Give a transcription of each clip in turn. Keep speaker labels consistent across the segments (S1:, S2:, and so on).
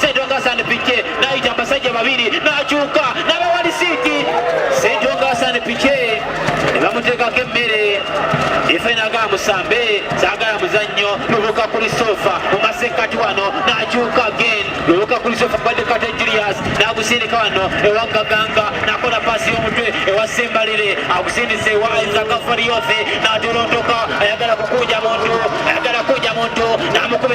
S1: Sendonga Hassan Pique naita abasajja babiri nakyuka nabawa lisiiti Sendonga Hassan Pique ne bamuteekako emmere efe nagala musambe sagala muzannyo lubuka kuli sofa mu masekkati wano nakyuka gen lubuka kuli sofa badekate Julius nagusindika wano ewa Gaganga nakola pasi y'omutwe ewa Sembalire agusindise ewa Isaac Fariofe natolontoka ayagala kukuja muntu ayagala kuja muntu namukuba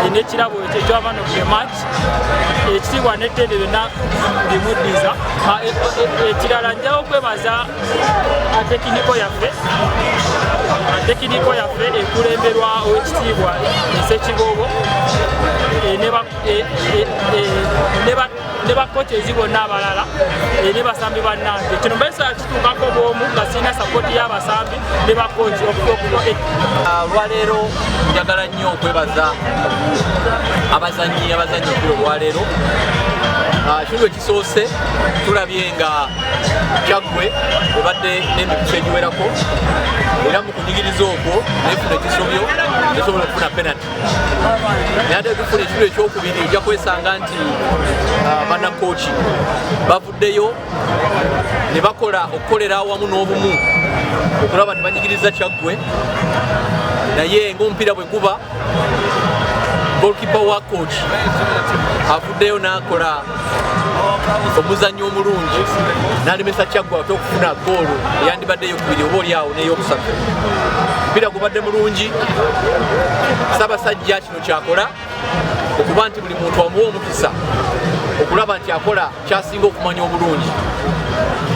S1: alina ekirabo ekyo ekyabaana ku match ekitiibwa n'ettendo byonna bimuddiza ah, e, e, e, ekirala njawo okwebaza tekiniko yaffe tekiniko yaffe ekulemberwa owekitiibwa esekiboobo ne ne bakkooti ezi bonna abalala
S2: eh, ne basambi bannange kino mbaisa kituukako bwomu nga sirina sapoti y'abasambi ne bakkooti okutokuno eh. ah, olwaleero
S3: njagala nnyo okwebaza abazanyi abazanyi okuli olwaleero ah, kino lwe kisoose tulabye nga kyaggwe ebadde n'emikusa egiwerako era mu kunyigiriza okwo nefuna ekisobyo esobola okufuna penati nayate tufuna ekiro ekyokubiri ojja kwesanga nti uh, banakoki bavuddeyo ne bakola okukolera awamu n'obumu okulaba nti banyigiriza kyaggwe naye ngaomupiira bwe guba golkipa wa koki avuddeyo n'akola omuzannyi omulungi nalemesa kyaggwa ate okufuna goolo eyandibadde eyokubiri oba oli awo neyokusatu mpira gubadde mulungi sabasajja kino kyakola okuba nti buli muntu amuwa omukisa okulaba nti akola kyasinga okumanya obulungi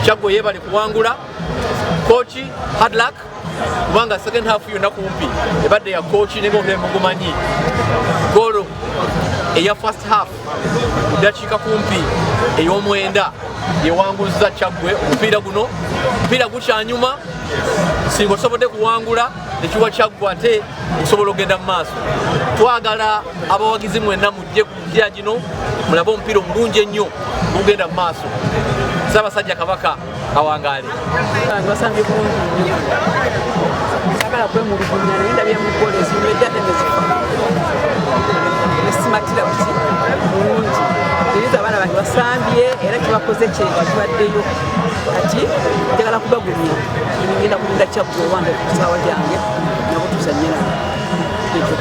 S3: kyaggwa yebale kuwangula koki hadlak kubanga second half yonna kumpi ebadde ya koki ne ng'omulema mugumanyi golo eya first half mu ddakiika kumpi ey'omwenda yewanguzza kyaggwe omupiira guno omupiira gukyanyuma singa osobodde kuwangula ekiwa kyaggwa ate okusobola okugenda mu maaso twagala abawagizi mwenna mujje ku mupiira gino mulabe omupiira omulungi ennyo ogugenda mu maaso ssaabasajja kabaka awangaale basambye
S4: bulungi sagala kwemulugunya naye ndabye mukola ezimu edade nezifa esimatira buti bulungi eriza abaana bange basambye era kibakoze kyekyo kibaddeyo kati njagala kubagumya ngenda kulinda kyakku owange kusaawa gyange nabutuusa nyina ekyo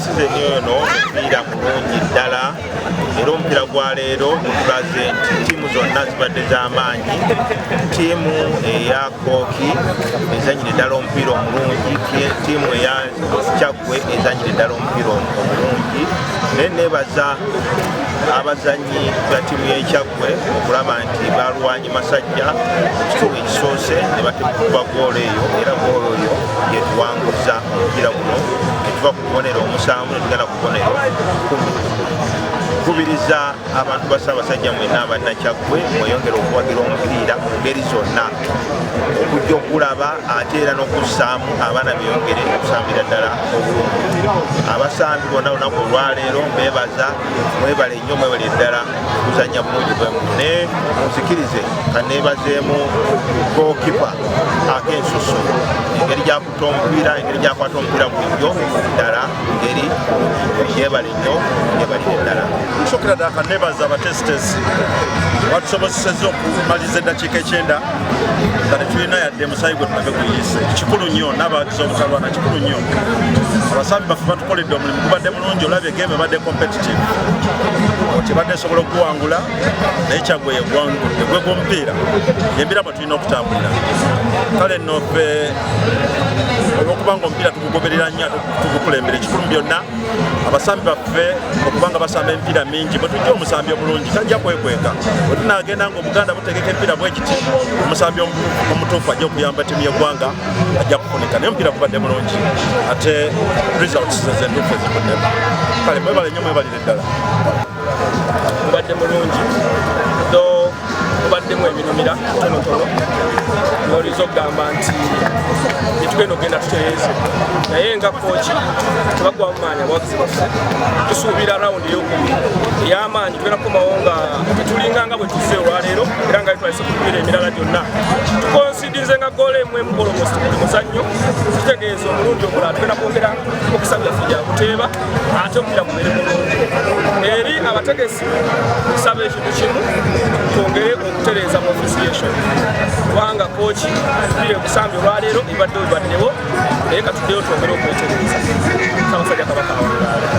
S5: size nyo ono omupiira mulungi ddala era omupiira gwa leero gutulaze nti ttiimu zonna zibadde z'amaanyi ttiimu eya kooki ezanyire ddala omupiira omulungi ttiimu eya kyaggwe ezanyire ddala omupiira omulungi naye nebaza abazanyi ba tiimu yekyaggwe okulaba nti balwanyi masajja ekituuka ekisoose ne batemukuba goolo eyo era goolo oyo yetuwanguza omupiira guno kubonero omusanvu netugenda kubonero kubiriza abantu ba ssaabasajja mwena abannakyaggwe mweyongere okuwagira omupiira mu ngeri zonna okujja okulaba ate era n'okussaamu abaana beyongere okusambira ddala obulungi abasambi bonna lunaku olwaleero mbebaza mwebale nnyo mwebale ddala kuzanya bulungi bwemu ne munzikirize kaneebazeemu gokipa akensusu engeri akwata omupiira engeri gyakwata omupiira bulijjo ddala ngeri yebale nnyo yebalire ddala nsokera ddala
S6: kanebaza abatesitesi batusobozeseza okumaliza eddakiika ekyenda nga tetulina yadde musayi gwe tulabe guyise kikulu nnyo n'abawagiza obutalwana kikulu nnyo abasambi baffe batukoledde omulimu gubadde mulungi olabye game ebadde competitive tebadde esobola okuwangula naye kyagwe yegwangudde gwe gwomupiira embira tulina okutambulira kale nno ffe olwokuba nga omupiira tugugoberera nnyo ate tugukulembera ekikulu byonna abasambi baffe okuba nga basamba emipiira mingi bwe tujja omusambi omulungi tajja kwekweka bwe tunagenda nga obuganda butegeka emipiira bwekiti omusambi omutuufu ajja okuyamba timu yeggwanga ajja kufunika naye omupiira gubadde mulungi ate results zezentuufu ezikuddemu kale mwebale nnyo mwebalire ddala gubadde
S2: mulungi kubaddemu ebinumira tonotono nolinza okugamba nti gyetugenda okugenda tutereeze naye nga kooki tebagwamu maanyi abawagizi baffe tusuubira rawundi eyokubiri ey'amaanyi tugenda kukomawo nga tulinga nga bwe tuzze olwaleero era nga twalise kukubiira emirala gyonna tukonsidinze nga goola emu emu olomosi buli muzannyo tutegeeza omulundi omulala tugenda kwongera omukisa byaffe gya kuteeba ate omupira gubeere mulungi eri abategesi nsaba kimu twongere okutereeza mu ofisiyation kubanga kooki biri ekusambi olwaleero ebadde obaddewo naye katuddeyo twongere okwetereeza kamusajja kabaka